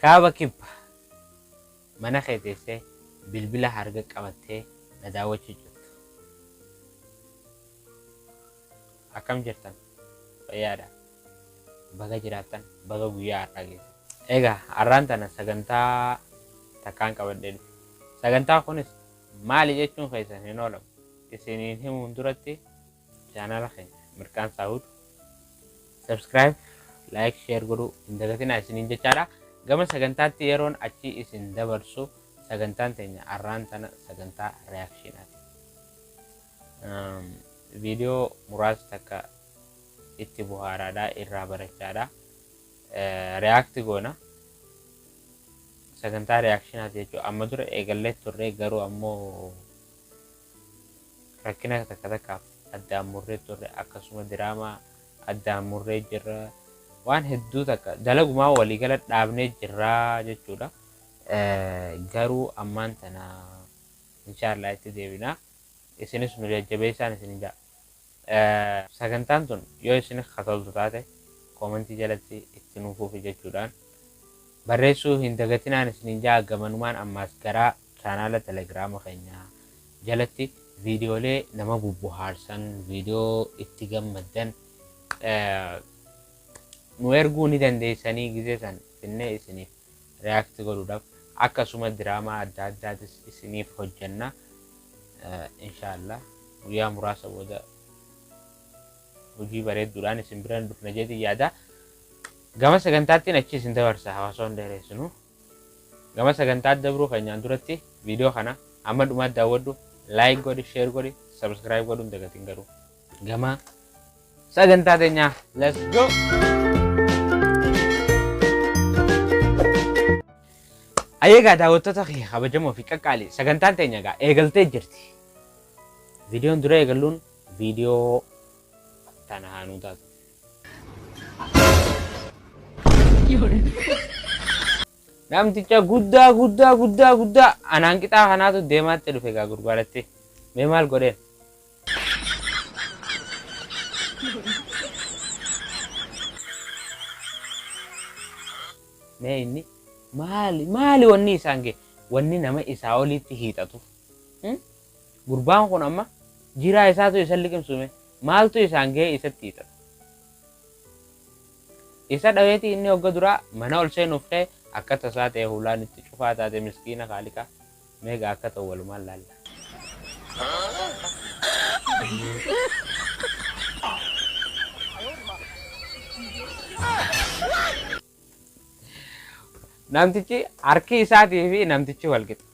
Kaaba Kibba. Mana kee teessee bilbila harga qabattee na daawwachuu jirtu. Akkam jirtan? Fayyaadha. Baga jiraattan, baga guyyaa har'aa geessan. Egaa har'aan tana sagantaa takkaan qabadhee dhufe. Sagantaa kunis maali jechuun keessan hin oolamu. Isiniin himuun duratti Chaanaala keenya Mirqaan Saawud subscribe, like, share godhuu hin dagatinaa isiniin jechaadha. Gama sagantaatti yeroon achi isin dabarsu sagantaan teenya arraan tana sagantaa reakshiinaati. Viidiyoo muraasa takka itti buhaaraadha irraa barachaadha. Reaakti goona. Sagantaa reakshiinaati jechuudha. Amma dura eegallee turre garuu ammoo Rakkina takka takkaaf addaan murree turre akkasuma diraamaa addaan murree jirra waan hedduu takka dalagumaa walii gala dhaabnee jirraa jechuudha. Garuu ammaan tana inshaallaa itti deebinaa isinis nu jajjabeessaan isinin ja'a. Sagantaan tun yoo isinif ka toltu taate comment jalatti itti nuu fufi jechuudhaan barreessuu hin dagatinaan isiniin ja'a gamanumaan ammaas garaa chaanaala telegrama keenya jalatti viidiyoolee nama bubbuhaarsan viidiyoo itti gammaddan nu erguu ni dandeessanii gizee san finnee isiniif react godhudhaf akka suma diraamaa adda addaatis isiniif hojjanna inshallah guyyaa muraasa booda hojii bareedduudhaan isin biran dhufna jeetiin yaada gama sagantaattiin achi isin dabarsa hawaasa hunda hireessinu gama sagantaa dabruu keenyaan duratti viidiyoo kana amma dhumaa daawwadhu like godhi share godhi subscribe godhuun dagatiin garuu Gama sagantaa teenyaa let's go! Ayyeegaa daawwattoota kee kabajamoo fi qaqqaali sagantaan teenya egaa eegaltee jirti. Viidiyoon dura eegalluun viidiyoo tana haanuu taatu. Namticha guddaa guddaa guddaa guddaa anaan qixaa kanaatu deemaatti dhufe egaa gurbaadhatti. Mee maal godheen? Mee inni maali maali wanni isaan ga'e wanni nama isaa oliitti hiixatu Hmm? gurbaan kun amma jiraa isaatu isa liqimsume maaltu isaan ga'e isatti hiixata isa dhaweeti inni hogga duraa mana ol seenuuf ka'e akka tasaa ta'e hulaan itti cufaa taate miskiina kaaliqaa Meeqa akka ta'u walumaan laalla. Namtichi harki isaatii fi namtichi wal qixa.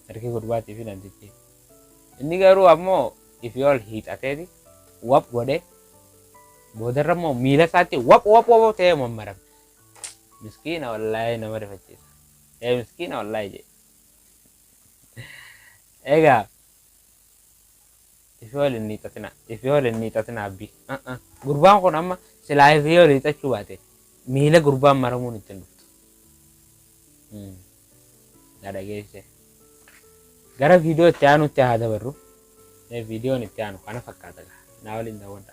Harki gurbaatii fi namtichi. Inni garuu ammoo ifii ol hiixateeti wap godhee boodarra immoo miila isaatti wap wap wap ta'ee mammarame. Miskiina wallaahi nama rifachiisa. Ee miskiina wallahi jee. Egaa ifi waliin ni xatina ifi waliin ni xatina abbi. Gurbaan kun amma silaa ifi yoo liixachuu baate miila gurbaan maramuun ittiin dhuftu. Na dhageesse. Gara viidiyoo itti aanutti haa dabarru. Viidiyoon itti aanu kana fakkaata. Naa waliin daawwadha.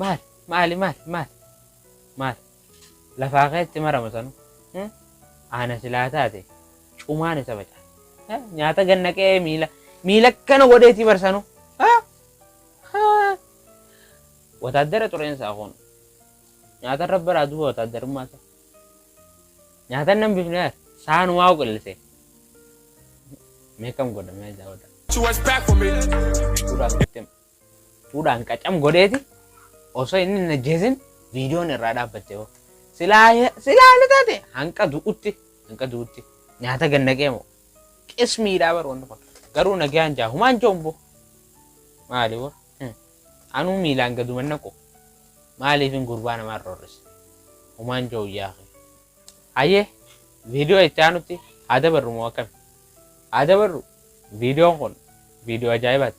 Maali maali maali maali maali lafaa keetti marama sanu hmm? aana silaa taate cumaan isa baca Eh, nyaata ganna qe'ee miila miila akkana godheetii barsanu Ah! Ah! wataaddara xureensaa kun nyaata irra baraa duuba wataaddarummaa isaa nyaata nan bifne saanumaa qillise meekam godhamee jaawata She was back for me. suuraa fudhatte Fuudhaan qacam godheeti osoo inni hin ajjeesin viidiyoon irraa dhaabbatte hoo. Silaa silaa ni taate hanqa du'utti hanqa du'utti nyaata gannaqee moo qismiidhaa bar wanni kun garuu nagaan jaa humaan joombo maali wa anuu miilaan gaduman naqu maaliif hin gurbaa namaa rorris humaan joo yaa hayyee viidiyoo itti aanutti haa dabarru moo akkami haa dabarru viidiyoon kun viidiyoo ajaa'ibaati.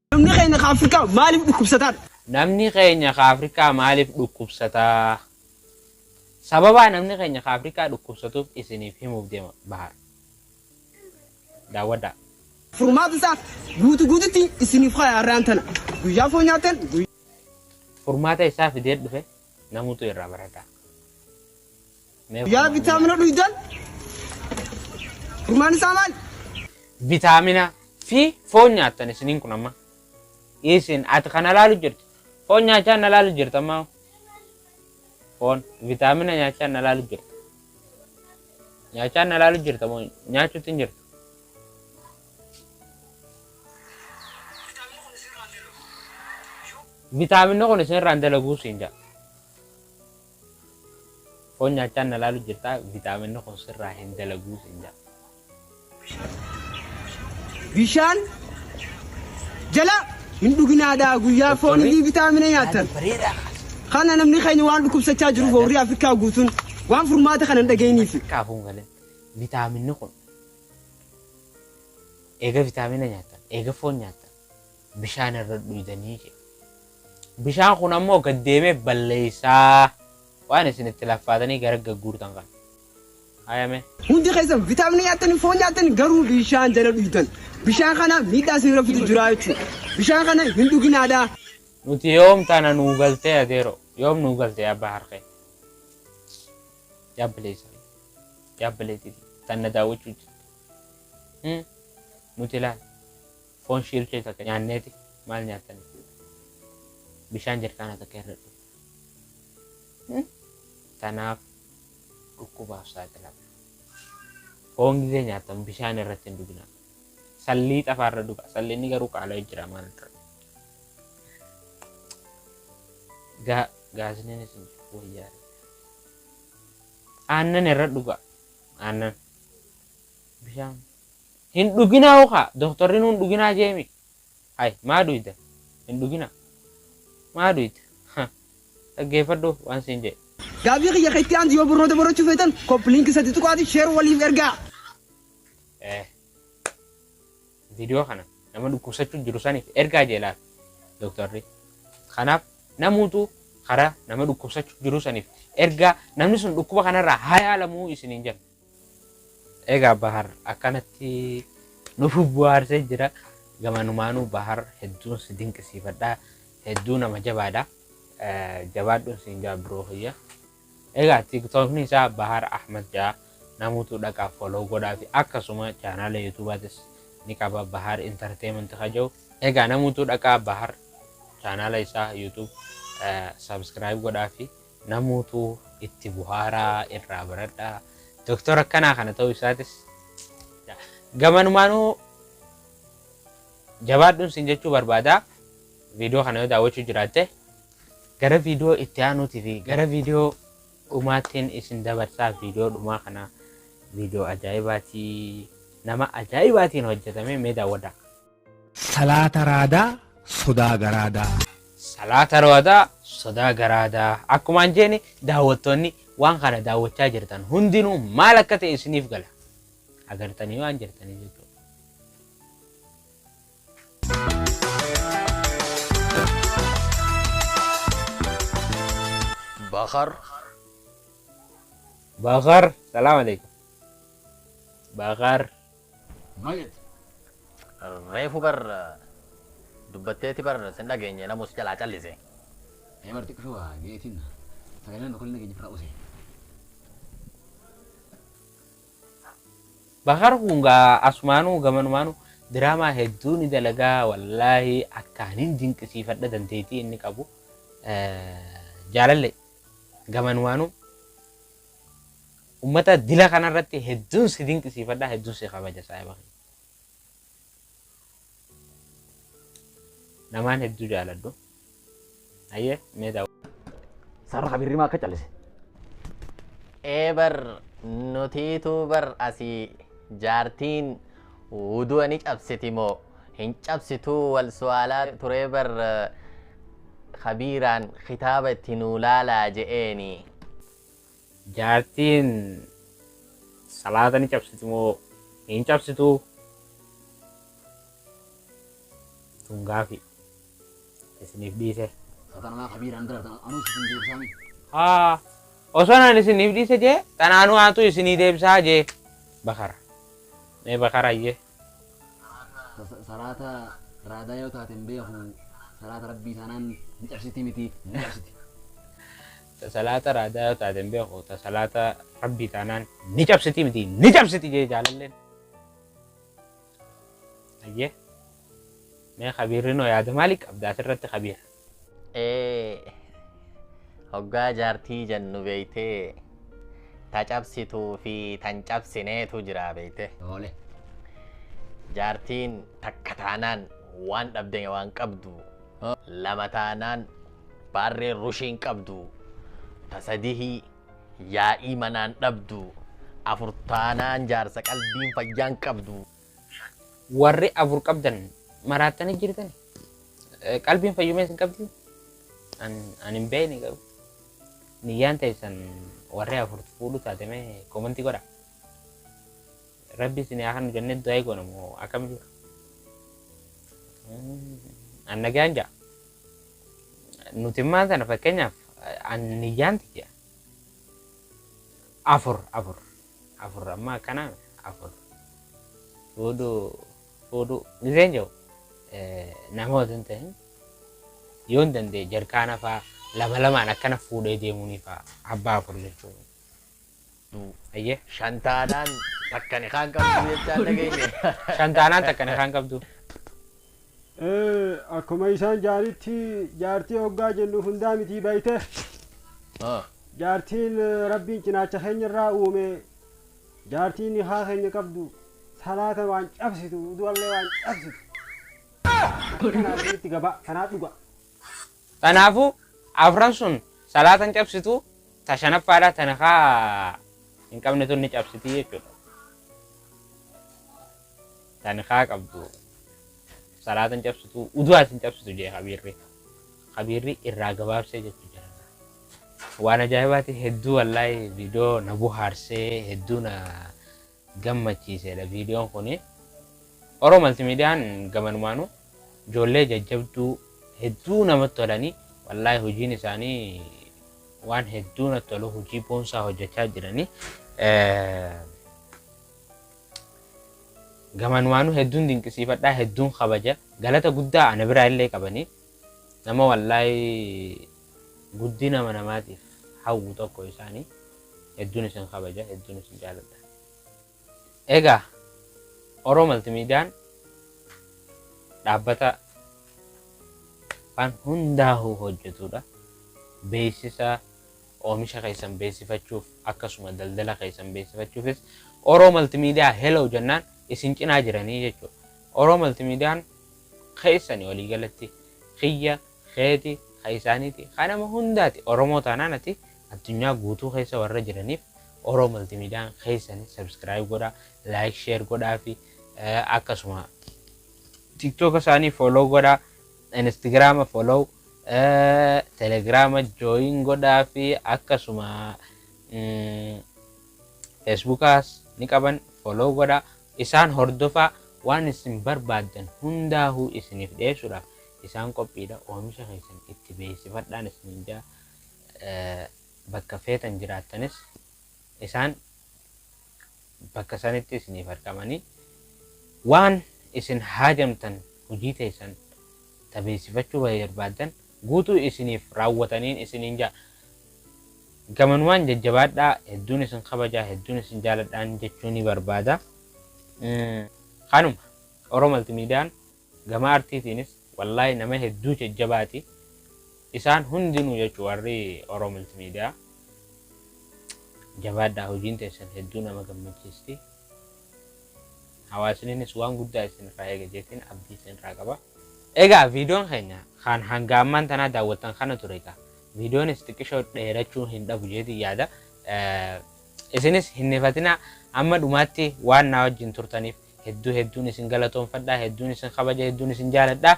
Namni keenya ka Afrikaa maaliif dhukkubsataa? Namni keenya ka Afrikaa maaliif dhukkubsataa? Sababaa namni keenya ka Afrikaa dhukkubsatuuf isiniif himuuf deema Bahar. Daawwadhaa. Furmaata isaa guutu guututti isiniif kaya har'aan tana. Guyyaa foon nyaatan guyyaa. Furmaata isaa fidee dhufe namutu irraa barataa. Yaa vitaamina dhuydan furmaan isaa maali? Vitaamina fi foon nyaattan isiniin kun amma. Isin ati kana laalu jirtu. Foon nyaachaa na laalu jirtu amma. Foon vitaamina nyaachaa na laalu jirtu. Nyaachaa na laalu jirtu amma nyaachuutti hin jirtu. Vitaaminni kun isinirraan dalaguu siin jaa. Foon nyaachaa na laalu jirtaa vitaaminni kun sirraa hin dalaguu sin jedha. Bishaan jala hin dhuginaadhaa guyyaa foon Doktorri? inni vitaamina nyaatan. Kana namni keenya waan dhukkubsachaa jiruuf warri Afrikaa guutuun waan furmaata kana hin dhageenyiif. Kaafuun galee vitaaminni kun eega vitaamina nyaatan eega foon nyaatan bishaan irra dhuydanii jedhe. Bishaan kun ammoo gad deemee balleessaa waan isin itti laffaatanii gara gagguurtan kana. Hayame. Hundi keessan vitaaminii nyaattanii foon nyaattanii garuu bishaan jala dhuydan. Bishaan kana miidhaa isin irra fidu jira jechuudha. Bishaan kana hin dhuginaadha. Nuti yoom tana nuu galtee adeero yoom nuu galtee abbaa harkee. Jaabbilee siree. Jaabbilee tifi. Tanna daawwachuu jirtu. Nuti laal. Foon shiilkee takka nyaanneeti maal nyaattan jechuudha. Bishaan jarkaana takka hir'adhu. Tanaaf dhukkubaaf saaxilamna. Foon gizee nyaattan bishaan irratti hin dhuginaa. Sallii xafaa irra dhugaa. Sallinni garuu qaala'ee jira maal irra. Gaa gaaziniinis hin jiru wayyaa. Aannan irra dhugaa. Aannan. Bishaan Hin dhuginaa hoo kaa doktorrinuu hin dhuginaa jeemi hay maa duyda hin dhuginaa maa duyda ha dhaggeeffadhu waan siin jedhe. Gaaffii kiyya ka itti aantu yoo barnoota barachuu feetan copy link sadi tuqaati share waliif ergaa. Eh. Video kana nama dhukkubsachuu jiru saniif ergaa jee laata doktorri. Kanaaf namuutu karaa nama dhukkubsachuu jiru saniif ergaa namni sun dhukkuba kanarraa haa yaalamuu isiniin jenna. Egaa Bahar akkanatti nuuf buhaarsee jira. Gamanumaanuu Bahar hedduun si dinqisiifadha. Hedduu nama jabaadha. Jabaadhuun siin jaa biroo kiyya. Egaa tiiktookni isaa Bahar Ahmad jaa namuutu dhaqa follow godhaa fi akkasuma chaanaala yuutuubaatis ni qaba Bahar Entertainment kaja'u. Egaa namuutu dhaqaa Bahar chaanaala isaa yuutuub subscribe godhaa fi Namuutu itti buhaara irraa baradha. Doktor akkanaa kana ta'uu isaatis gamanumaanuu jabaadhuun siin jechuu barbaada. Viidiyoo kana yoo daawwachuu jiraatte gara viidiyoo itti aanuutii fi gara viidiyoo dhumaattiin isin dabarsaa viidiyoo dhumaa kana viidiyoo ajaa'ibaatii nama ajaa'ibaatiin hojjetamee mee daawwadhaa. Salaata raadaa sodaa garaadaa. Salaata raadaa sodaa garaadaa. Akkumaan jeeni daawwattoonni waan kana daawwachaa jirtan hundinuu maal akka ta'e isiniif gala. Agartanii waan jirtanii jechuudha. Bakar. Bakar. Salaam alaikum. Bakar. Mal jette? Reefu bar dubbatteeti bar sin dhageenye namuu si jalaa callise. Ee bar xiqqisho waa jeetiin sagalee nama tokko illee dhageenye firra usee. Bakar kun gaa asumaanuu gamanumaanuu diraamaa hedduu ni dalagaa wallaahi akkaan hin dinqisiifadha dandeettii inni qabu jaalallee gamanumaanuu Ummata dila kana irratti hedduun si dinqisiifadha hedduun si kabaja saahiba kiyya. Namaan hedduu jaaladhu. Ayyee mee daawwa. Sarara kabirri maa akka callise. ee bar nutiitu bar asii jaartiin wudu'a ni cabsiti moo hin cabsituu wal su'aalaa turee bar kabiiraan kitaaba itti nuu laalaa je'eeni. Jaartiin salaata ni cabsiti moo hin cabsitu? Tun gaafi isiniif dhiise. Satanumaa kabiiraan bira ta'u anuus isin deebisaami. Haa osoo naan isiniif dhiise jee tanaanuu aantuu isinii deebisaa jee bakara. Mee bakara jee. salaata raadaa yoo taate hin beeku salaata rabbii taanaan ni cabsiti miti ni cabsiti. salaata raadaa yoo taate hin beeku salaata rabbii taanaan ni cabsiti miti ni cabsiti jee jaalalleen. Ayyee mee kabiirri noo yaada maalii qabda asirratti kabiira. ee hoggaa jaartii jennu beeytee ta cabsituu fi tan cabsineetu jira beeyte Tole. jaartiin takka taanaan waan dhabde waan qabdu Ha. lama taanaan baarree rushiin qabdu ta sadihii yaa'ii manaan dhabdu afur taanaan jaarsa qalbiin fayyaan qabdu Warri afur qabdan maraattanii jirtani. Eh, Qalbiin fayyumee isin qabdi. An an hin beekne garuu. Niyyaan teessan warri afur fuudhu taate mee komantii godha. Rabbi isin haa kanu jennee du'aa eegoona moo akkam jira? Mm, An nagaan jaa. Nuti immaan sana fakkeenyaaf eh, an niyyaan tiyya. Afur afur. afur amma akkana afur fuudhuu fuudhuu miseen jiru namoota hin ta'in yoo hin danda'e jarkaana faa lama lamaan akkana fuudhee deemuunii faa abbaa afur jechuun ayyee Shantaanaan takkani kaan qabdu jechaan dhageenye. shantaanaan takkana kan qabdu Akkuma isaan jaanitti jaartii hoggaa jennu hundaa mitii bayte. Jaartiin Rabbiin cinaacha keenya irraa uume jaartiin nikaa keenya qabdu salaata waan cabsitu udu'allee waan cabsitu. Kanaa itti gabaa kanaa dhugaa. Tanaafuu afran sun salaata hin cabsitu, ta shanaffaadha ta nikaa hin qabne tun ni cabsiti jechuudha. Ta nikaa qabdu salaata hin cabsitu, uduwaas hin cabsitu jee kabiirri. Kabiirri irraa gabaabsee jechuu jira. Waan ajaa'ibaati hedduu wallaahi viidiyoo na buhaarsee hedduu na gammachiiseedha viidiyoon kun oro maltimiidiyaan gamanumaanu ijoollee jajjabduu hedduu namatti tolanii wallaahi hojiin isaanii waan hedduu natti tolu hojii boonsaa hojjechaa jiranii gamanumaanu hedduun dinqisiifadhaa hedduun kabaja galata guddaa ana biraa illee qabanii nama wallaahi guddinama namaatiif hawwu tokko isaani. Hedduun isin kabaja, hedduun isin jaaladha. Egaa Oro Maltimiidiyaan dhaabbata waan hundaahuu hojjetuudha. Beeksisa oomisha keessan beeksifachuuf akkasuma daldala keessan beeksifachuufis Oro Maltimiidiyaa hello jennaan isin cinaa jiranii jechuudha. Oro Maltimiidiyaan keessani waliigalatti kiyya keeti, ka isaaniiti, ka nama hundaati. Oromoo taanaan ati addunyaa guutuu keessa warra jiraniif Oro Multimedian keessan subscribe godhaa, like, share godhaafi akkasuma TikTok isaanii follow godhaa, Instagram follow, Telegram join godhaafi akkasuma Facebookas ni qaban follow godhaa. Isaan hordofaa waan isin barbaaddan hundaahuu isiniif dhiyeessuudhaaf Isaan qophiidha oomisha keessan itti beeksifadhaan isiniin jedha. Bakka feetan jiraattanis isaan bakka sanitti isiniif argamanii waan isin haajamtan hojii teessan ta beeksifachuu barbaaddan guutuu isiniif raawwataniin isiniin jedha. Gamanumaan jajjabaadhaa hedduun isin kabajaa hedduun isin jaaladhaan jechuu ni barbaada. Kanuma Oro Maltimiidiyaan Gama artiitiinis wallahi nama hedduu jajjabaati isaan hundinuu jechu warri Oro Multimedia jabaadhaa hojiin teessan hedduu nama gammachiisti hawaasninis waan guddaa isin irraa eega jeetiin abdii isin irraa qaba. Egaa viidiyoon keenya kan hanga ammaan tanaa daawwattan kana ture egaa viidiyoonis xiqqishoo dheerachuu hin dhabu jeetiin yaada isinis hin hifatinaa amma dhumaatti waan naa wajjin turtaniif Hedduu hedduun isin galatoomfadha, hedduun isin kabaja, hedduun isin jaaladha.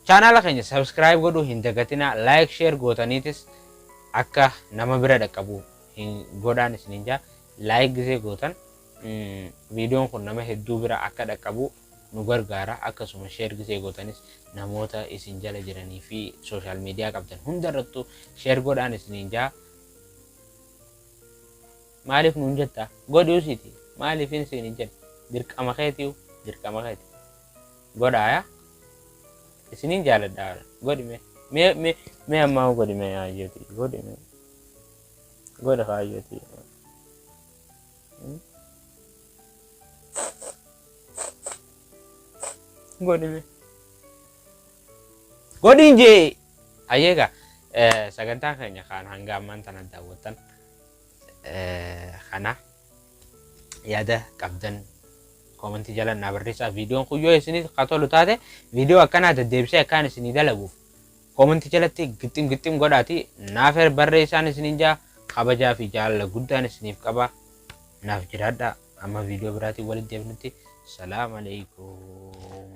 Chaanaala keenya subscribe godhuu hin dagatinaa, like share gootaniitis akka nama bira dhaqqabu hin godhaan isiniin jaa. Like gisee gootan viidiyoon kun nama hedduu bira akka dhaqqabu nu gargaara. Akkasuma share gisee gootanis namoota isin jala jiranii fi social media qabdan hundarrattu share godhaan isiniin jaa. Maaliif nuun jetta? Godhuu siiti. Maaliifin siin hin jenne? Dirqama keetiyu. Dirqama keeti. Godhaa yaa. Isinin jaaladha. Godhi mee. Mee mee mee ammaa godhi mee hayyoti. Godhi mee. Godha hayyoti. Godhi mee. Godhi jee. Hayyeegaa sagantaan keenya kaan hanga ammaan tana daawwattan. kana yaada qabdan koomantii jala naa barreessaa viidiyoon kun yoo isinii ka tolu taate viidiyoo akkanaa deddeebisee akkaan isinii dalaguuf koomantii jalatti gixxim gixxim godhaati naaf barreessaan isiniin jaa kabajaa fi jaalala guddaan isiniif qaba naaf jiraadha amma viidiyoo biraatiin walitti deebinutti salaam alaikum